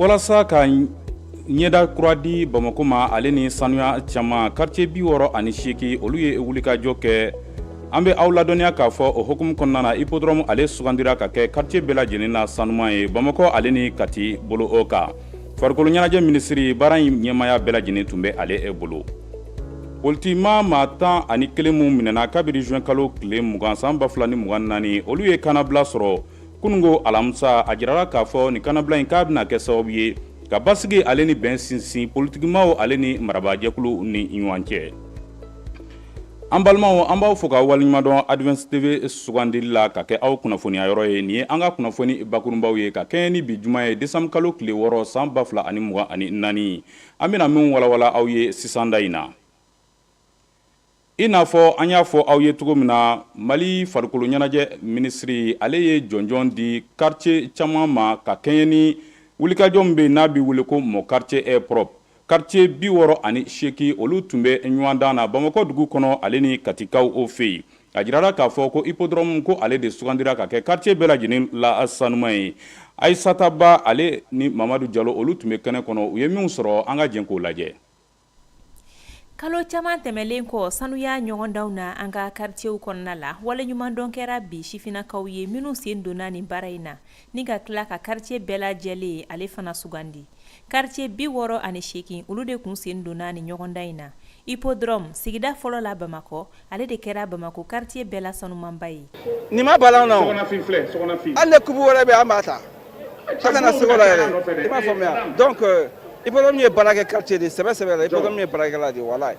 walasa ka ɲɛda kura di bamakɔ ma ale ni sanuya caman karitiye bi wɔɔrɔ ani seegin olu ye wulikajɔ kɛ an bɛ aw ladɔnniya k'a fɔ o hukumu kɔnɔna na ipodɔrɔmu ale sugandira ka kɛ karitiye bɛɛ lajɛlen na sanuman ye bamakɔ ale ni kati bolo o kan farikolo ɲɛnajɛ minisiri baara in ɲɛmaaya bɛɛ lajɛlen tun bɛ ale e bolo politikima maa tan ani kelen minw minɛna kabiri juin kalo tile mugan san ba fila ni mugan naani olu ye kannabila sɔrɔ kunungo alamisa a jirala k'a fɔ nin kannabila in k'a bɛna kɛ sababu ye ka basigi ale ni bɛn sinsin politikimaw ale ni marabaajɛkulu ni ɲɔgɔn cɛ an balimaw an b'aw fo ka waleɲumandɔn advance tv sugandili la ka kɛ aw kunnafoniya yɔrɔ ye nin ye an ka kunnafoni bakurunbaw ye ka kɛɲɛ ni bi juma ye desanburu kalo tile wɔɔrɔ san ba fila ani mugan ani naani an bɛna minw walawala aw ye sisan da in na i n'a fɔ an y'a fɔ aw ye cogo min na mali farikolo ɲɛnajɛ minisiri ale ye jɔnjɔn di karitiye caman ma ka kɛɲɛ ni wulikajɔ min bɛ yen n'a bɛ wele ko mon quartier est propre karitiye bi wɔɔrɔ ani seegin olu tun bɛ ɲɔgɔndan na bamakɔ dugu kɔnɔ ale ni katikaw o fɛ yen a jirara k'a fɔ ko ipodɔrɔmu ko ale de sugandira ka kɛ karitiye bɛɛ lajɛlen la sanuman ye ayisata ba ale ni mamadu jalo olu tun bɛ kɛnɛ kɔnɔ u ye minnu sɔrɔ an ka jɛn k'o lajɛ kalo caman tɛmɛlen kɔ sanuya ɲɔgɔndanw na an ka karitiyew kɔnɔna la waleɲumandɔn kɛra bi sifinnakaw ye minnu sen donna nin baara in na ni ka tila ka karitiye bɛɛ la jɛlen ale fana sugandi karitiye bi wɔɔrɔ ani seegin olu de tun sen donna nin ɲɔgɔndan in na ipodɔrɔmu sigida fɔlɔ la bamakɔ ale de kɛra bamakɔ karitiye bɛɛ la sanumanba ye nin ma bala an na hali kupu wɛrɛ bɛ an b'a ta ka kana segu yɛrɛ i b'a faamuya donc ipodɔrɔmu ye baarakɛ karitiye de sɛbɛ sɛbɛ la ipodɔrɔmu ye baarakɛla de wala ye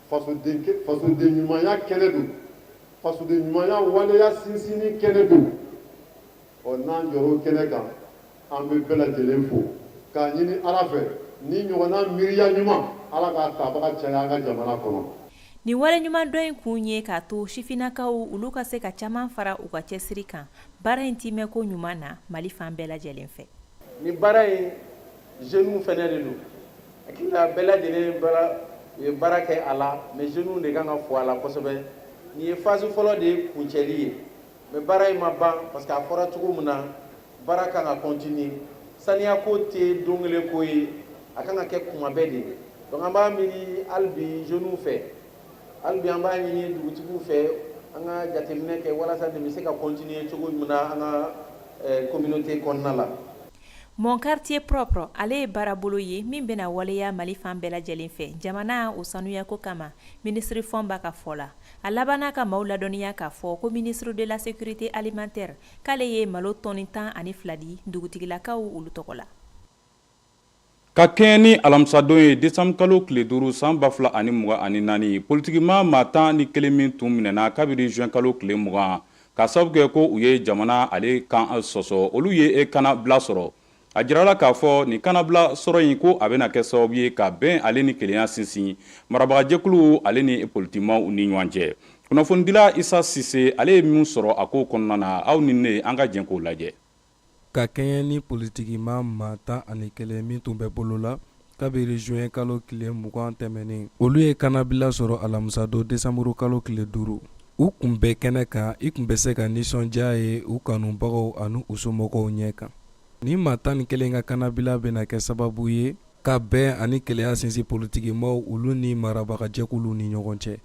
ɲumanya kɛnɛ don fasoden ɲumanya waleya sinsinni kɛnɛ don ɔ n'an jɔr'o kɛnɛ kan an bɛ bɛɛ lajɛlen fo k'a ɲini ala fɛ nin ɲɔgɔnna miiriya ɲuman ala k'a tabaga caya an ka jamana kɔnɔ Nin waleɲumandɔn in kun ye k'a to sifinnakaw olu ka se ka caman fara u ka cɛsiri kan baara in tiimɛko ɲuman na Mali fan bɛɛ lajɛlen fɛ. Nin baara in jeunes fana de don. Hakili la bɛɛ lajɛlen ye baara kɛ a la mais jeunes w de kan ka fo a la kosɛbɛ nin ye phase fɔlɔ de ye kuncɛli ye mais baara in ma ban parce que a fɔra cogo min na baara kan ka continuer saniya ko tɛ don kelen ko ye a kan ka kɛ kuma bɛɛ de donc an b'a miiri hali bi jeunes w fɛ hali bi an b'a ɲini dugutigiw fɛ an ka jateminɛ kɛ walasa nin bɛ se ka continuer cogo min na an ka communauté kɔnɔna la. Mon quartier propre ale ye baarabolo ye min bɛna waleya mali fan bɛɛ lajɛlen fɛ jamana o sanuyako kama ministre Fomba ka fɔ la a labanna ka maaw ladɔnniya k'a fɔ ko ministre de la sécurité alimentaire k'ale ye malo tɔni tan ani fila di dugutigilakaw olu tɔgɔ la Ka kɛɲɛ ni alamisadon ye desanburu kalo tile duuru san ba fila ani mugan ani naani politigima maa tan ni kelen min tun minɛna kabiri juin kalo tile mugan k'a sababu kɛ ko u ye jamana ale kan sɔsɔ olu ye kanabila sɔrɔ a jirala k'a fɔ nin kanabila sɔrɔ in ko a bɛna kɛ sababu ye ka bɛn ale ni kelenya sinsin marabagajɛkulu ale ni politigimaw ni ɲɔgɔn cɛ kunnafonidila Isa Sise ale ye min sɔrɔ a ko kɔnɔna na aw ni ne an ka jɛ k'o lajɛ ka kɛɲɛ ni politikima maa tan ani kelen min tun bɛ bolo la kabiri juin kalo tile mugan tɛmɛnen olu ye kannabila sɔrɔ alamisadon desanburu kalo tile duuru u kun bɛ kɛnɛ kan i kun bɛ se ka nisɔndiya ye u kanubagaw ani u somɔgɔw ɲɛ kan ni maa tan ni kelen ka kannabila bɛna kɛ sababu ye ka bɛn ani kelenya sinsin politigi maaw olu ni marabagajɛkulu ni ɲɔgɔn cɛ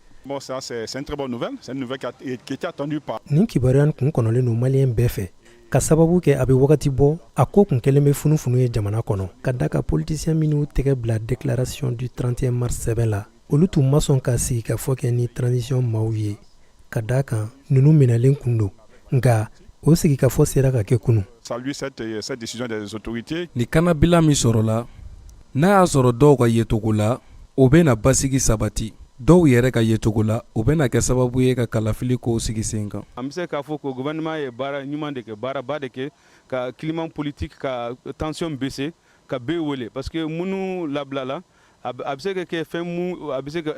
nin kibaruya kun kɔnɔlen don maliyɛn bɛɛ fɛ k'a sababu kɛ a bɛ wagati bɔ a ko kun kɛlen bɛ funufunu ye jamana kɔnɔ ka da kan politisiyɛn minnu tɛgɛ bila déclaration du 31 mars sɛbɛn la olu tun ma sɔn ka sigi ka fɔ kɛ ni transition maaw ye ka da kan ninnu minɛlen kun don nka o sigi ka fɔ sera ka kɛ kunu euh, ni kanabila min sɔrɔla n'a y'a sɔrɔ dɔw ka yecogo la o bɛna basigi sabati dɔw yɛrɛ ka yecogo la o bɛna kɛ sababu ye ka kalafili kow sigi sen kan an bɛ se k'a fɔ ko gouvernement ye baara ɲuman de kɛ baaraba de kɛ ka climat politique ka tension baisser ka bɛɛ wele parce que minnu labilala a bɛ se ka kɛ fɛn mun a bɛ se ka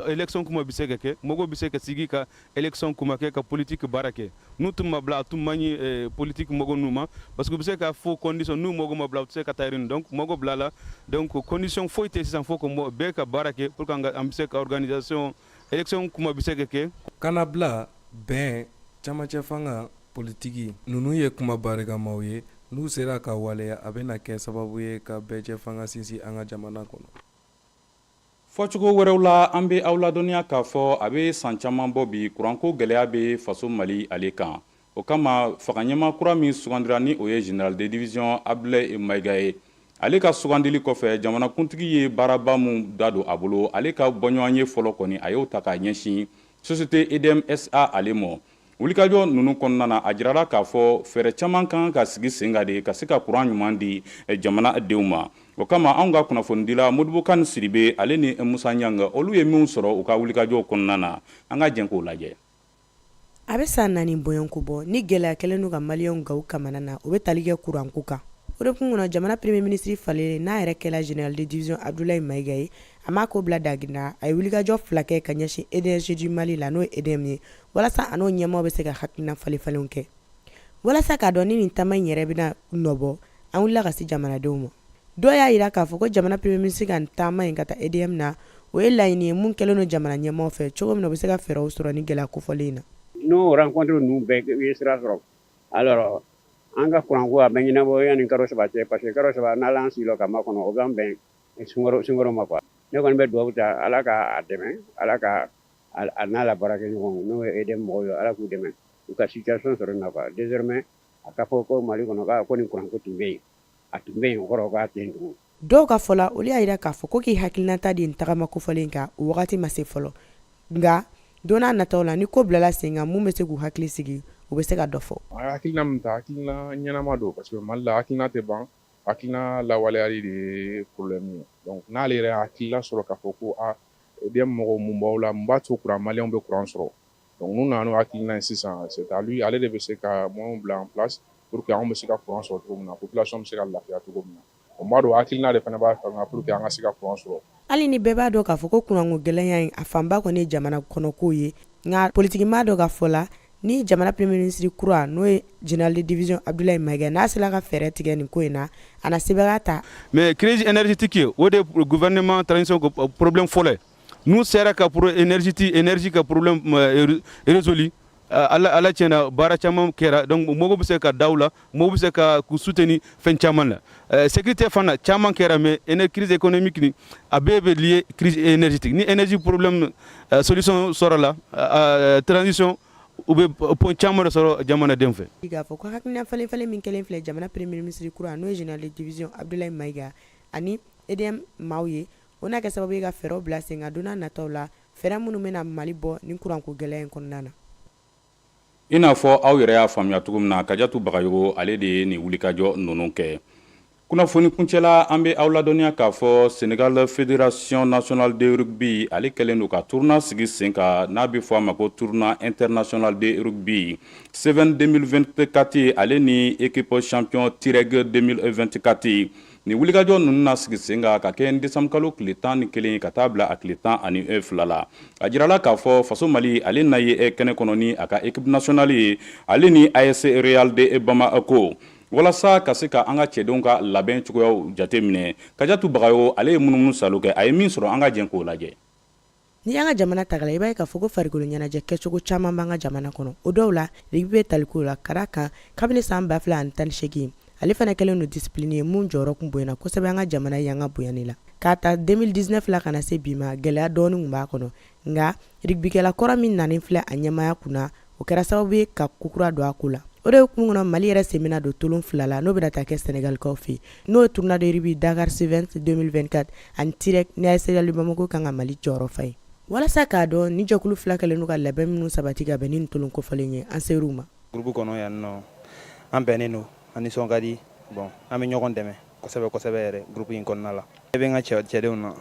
élection kuma bɛ se ka kɛ mɔgɔ bɛ se ka sigi ka élection kuma kɛ ka politigi baara kɛ n'u tun ma bila a tun man ɲi politigi mɔgɔ ninnu ma parce que u bɛ se k'a fɔ condition n'u mɔgɔ ma bila u tɛ se ka taa yen donc mɔgɔ bilala donc condition foyi tɛ sisan fo ko bɛɛ ka baara kɛ pour que an bɛ se ka organisation élection kuma bɛ se ka kɛ kanabila bɛn camancɛ fanga politiki ninnu ye kuma barikamaw ye n'u sera ka waleya a bɛna kɛ sababu ye ka bɛɛjɛ fanga sinsin an ka jamana kɔnɔ fɔcogo wɛrɛw la an bɛ aw ladɔnniya k'a fɔ a bɛ san caman bɔ bi kuranko gɛlɛya bɛ faso mali ale kan o kama fanga ɲɛmaa kura min sugandira ni o ye général de division abdulayi mayiga ye ale ka sugandili kɔfɛ jamanakuntigi ye baaraba min da don a bolo ale ka bɔɲɔgɔnye fɔlɔ kɔni a y'o ta k'a ɲɛsin société edm sa ale mɔ Wulikajɔ ninnu kɔnɔna na a jirara k'a fɔ fɛɛrɛ caman kan ka sigi sen kan de ka se ka kuran ɲuman di eh, jamana denw ma o kama anw ka kunnafonidila modibo kani sidibe ale ni musa ɲanga olu ye minnu sɔrɔ u ka wulikajɔw kɔnɔna na an ka jɛn k'o lajɛ a bɛ san naani bɔɲɔgɔnko bɔ ni gɛlɛya kɛlen don ka maliyɛnw gaw kamanagan o bɛ tali kɛ kuranko kan o de kun kɔnɔ jamana premier ministre falen n'a yɛrɛ kɛla général de division abdoulaye maiga ye a m'a ko bila daginda a ye wulikajɔ fila kɛ ka ɲɛsin énergie du mali la n'o ye edm ye walasa a n'o ɲɛmaaw bɛ se ka hakilina falen-falenw kɛ walasa k'a dɔn ni nin taama in yɛrɛ bɛna nɔbɔ an wulila ka se jamanadenw ma dɔw y'a jira k'a fɔ ko jamana premier ministre ka nin taama in ka taa EDM na o ye laɲini ye mun kɛlen don jamana ɲɛmaaw fɛ cogo min na u bɛ se ka fɛɛrɛw sɔrɔ ni gɛlɛya kofɔlen in na n'o rencontre ninnu bɛɛ u ye sira sɔrɔ alors an ka kuranko a bɛ ɲɛnabɔ yanni kalo saba cɛ parce que kalo saba n'ala an sigila ka makɔnɔ o b'an bɛn sunkalo sunkalo ma quoi ne kɔni bɛ dugawu ta ala ka a dɛmɛ ala ka a n'a la baarakɛɲɔgɔn n'o ye EDM mɔgɔw ye ala k'u dɛmɛ u ka situation sɔrɔ nin na désormais a ka fɔ ko mali kɔnɔ k'a ko nin kuranko tun bɛ yen a tun bɛ yen kɔrɔ k'a tɛ yen tugun dɔw ka fɔ la olu y'a jira k'a fɔ ko k'i hakilinata di tagama kofɔlen kan o wagati ma se fɔlɔ nka don n'a nata la ni ko bilala sen kan minnu bɛ se k'u hakili sigi u bɛ se ka dɔ fɔ hakilina min ta hakilina ɲɛnama don parce que mali la hakilina tɛ ban hakilina lawaleyali de ye problème ye n'ale yɛrɛ hakilina sɔrɔ k'a fɔ ko EDM mɔgɔw mun b'aw la mun b'a to kuran maliyɛnw bɛ kuran sɔrɔ donc n'u nana n'o hakilina ye sisan c'est à lui ale de bɛ se ka moyens bila en place pour que an bɛ se ka kuran sɔrɔ cogo min na population bɛ se ka lafiya cogo min na o b'a dɔn hakilina de fana b'a fɛ ka pour que an ka se ka kuran sɔrɔ hali ni bɛɛ b'a dɔn k'a fɔ ko kuranko gɛlɛya in a fanba kɔni jamana kɔnɔko ye nka politigimaa dɔ ka fɔ la ni jamana premier ministre kura n'o ye général de division Abdoulaye Maïga n'a sera ka fɛɛrɛ tigɛ nin ko in na a na sɛbɛya ta mais crise énergétique o de gouvernement transition euh, problème fɔlɔ n'u sera ka pour énergétique énergie ka problème euh, résolu euh, ala ala tiɲɛna baara caman kɛra donc mɔgɔw bɛ se ka da u la Maaw bɛ se ka k'u soutenir fɛn caman na ɛ sécurité fana caman kɛra mais éner crise économique nin a bɛɛ bɛ lié crise énergétique ni énergie problème ɛ solution sɔrɔla ɛ transition u bɛ point caman de sɔrɔ jamanadenw fɛ. Bi k'a fɔ ko hakilina falen falen min kɛlen filɛ jamana premier ministre kura n'o ye général de division Abdoulaye Maïga ani EDM maaw ye, o na kɛ sababu ye ka fɛɛrɛw bila sen kan don n'a nataw la, fɛɛrɛ minnu bɛna Mali bɔ nin kuranko gɛlɛya in kɔnɔna na. i n'a fɔ aw yɛrɛ y'a faamuya cogo min na kajatu bagayogo ale de ye nin wulikajɔ ninnu kɛ kunnafoni kuncɛla an bɛ aw ladɔnniya k'a fɔ sénégal fédération nationale de rugby ale kɛlen don ka tournoi sigi sen kan n'a bɛ fɔ a ma ko tournoi international de rugby seven 2024 ale ni équipe champion tirɛg 2024 Nin wulikajɔ ninnu na sigi sen kan ka kɛɲɛ ni desanburukalo tile tan ni kelen ye ka taa bila a tile tan ani e fila la a jirala k'a fɔ faso mali ale na ye e kɛnɛ kɔnɔ ni a ka équipe nationale ye ale ni AS Real de Bamako walasa ka se ka an ka cɛdenw ka labɛn cogoyaw jate minɛ Kajatu Bagayogo ale ye munumunu saalo kɛ a ye min sɔrɔ an ka jɛn k'o lajɛ Ni an ka jamana tagala i b'a ye k'a fɔ ko farikolo ɲɛnajɛ kɛcogo caman b'an ka jamana kɔnɔ o dɔw la rugby bɛ taliko la ka d'a kan kabini san ba fila ani tan ni segin ale fana kɛlen don discipline ye min jɔyɔrɔ kun bonyana kosɛbɛ an ka jamana yanga bonyani la k'a ta 2019 la ka na se bi ma gɛlɛya dɔɔnin b'a kɔnɔ nka rugbykɛla kɔrɔ min nanen filɛ a ɲɛmaya kunna o kɛra sababu ye ka kokura don a ko la o de hukumu kɔnɔ mali yɛrɛ sen bɛna don tolon fila la n'o bɛna taa kɛ sɛnɛgalikaw fɛ n'o ye tournoi de rugby Dakar Sevens 2024 ani Tirek ni AS Real de Bamako kan ka mali jɔyɔrɔ fa ye walasa k'a dɔn ni jɛkulu fila kɛlen don ka labɛn minnu sabati ka bɛn ni nin tolon kofɔlen ye an ser'u ma gurubu kɔnɔ yan nɔ an bɛnnen don an nisɔn ka di bon an bɛ ɲɔgɔn dɛmɛ kosɛbɛ kosɛbɛ yɛrɛ gurubu in kɔnɔna la e bɛ n ka cɛ cɛdenw na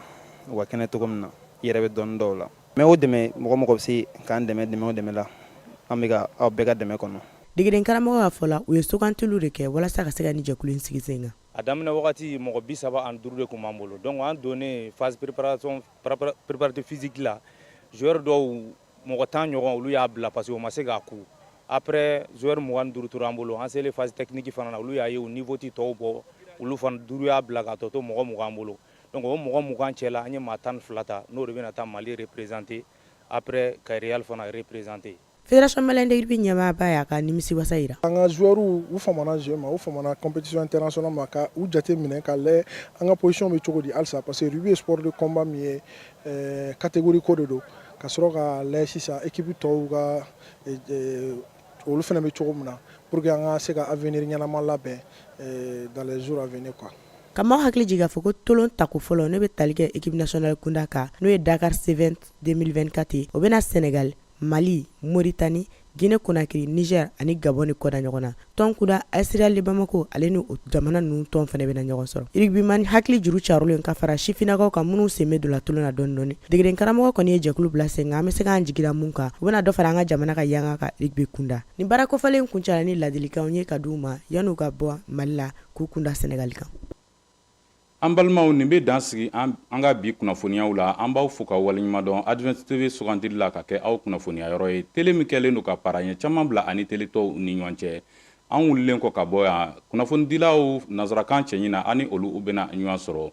u ka kɛnɛ cogo min na i yɛrɛ bɛ dɔn dɔw la Mais o dɛmɛ mɔgɔ mɔgɔ bɛ se k'an dɛmɛ dɛmɛ o dɛmɛ la an bɛ aw bɛɛ ka dɛmɛ kɔnɔ degeden karamɔgɔ ka fɔ la u ye sugantiliw de kɛ walasa ka se ka nin jɛkulu in sigi sen kan a daminɛ wagati mɔgɔ bi saba ani duuru de kun b'an bolo donc an donnen phase préparatif physique la joueur dɔw mɔgɔ tan ɲɔgɔn olu y'a bila parce que u ma se k'a ku après joueur mugan ni duuru tora an bolo an selen phase technique fana na olu y'a ye u niveau ti tɔw bɔ olu fana duuru y'a bila k'a tɔ to mɔgɔ mugan an bolo donc o mɔgɔ mugan cɛla an ye maa tan ni fila ta n'o de bɛna taa mali représenter après ka real fana représenter Fédération Malienne de rugby ɲɛmaaba y'a ka nimisiwasa jira. An ka joueurs u famana jeu ma, u famana compétition internationale ma ka u jate minɛ ka lajɛ an ka position bɛ cogo di halisa parce que rugby ye sport de combat min ye ɛɛ catégorie ko de don ka sɔrɔ ka lajɛ sisan équipe tɔw ka olu fana bɛ cogo min na pour que an ka se ka avenir ɲɛnama labɛn eh, dans les jours à venir quoi ka maaw hakili jigin k'a fɔ ko tolon tako fɔlɔ ne bɛ tali kɛ équipe nationale kunda kan n'o ye dakar Sevens 2024 ye o bɛna senegal mali moritani guine konakiri niger ani gabon ni kɔda ɲɔgɔn na tɔn kunda AS Real de Bamako ale ni o jamana ninnu tɔn fana bɛna ɲɔgɔn sɔrɔ rugbyman hakili juru carolen ka fara sifinnakaw kan minnu sen bɛ don la tolon na dɔɔni dɔɔni degeden karamɔgɔ kɔni ye jɛkulu bila sen kan an bɛ se k'an jigi da mun kan u bɛna dɔ fara an ka jamana ka yanga kan rugby kunda nin baara kofɔlen kuncɛla ni ladilikanw ye ka di u ma yan'u ka bɔ mali la k'u kunda sɛnɛgali kan an balimaw nin bɛ dan sigi an ka bi kunnafoniyaw la an b'aw fo ka waleɲumandɔn Advance TV sugandili la ka kɛ aw kunnafoniya yɔrɔ ye tele min kɛlen don ka paranye caman bila a ni tele tɔw ni ɲɔgɔn cɛ an wulilen kɔ ka bɔ yan kunnafonidilaw nansarakan cɛɲi na ani olu u bɛna ɲɔgɔn sɔrɔ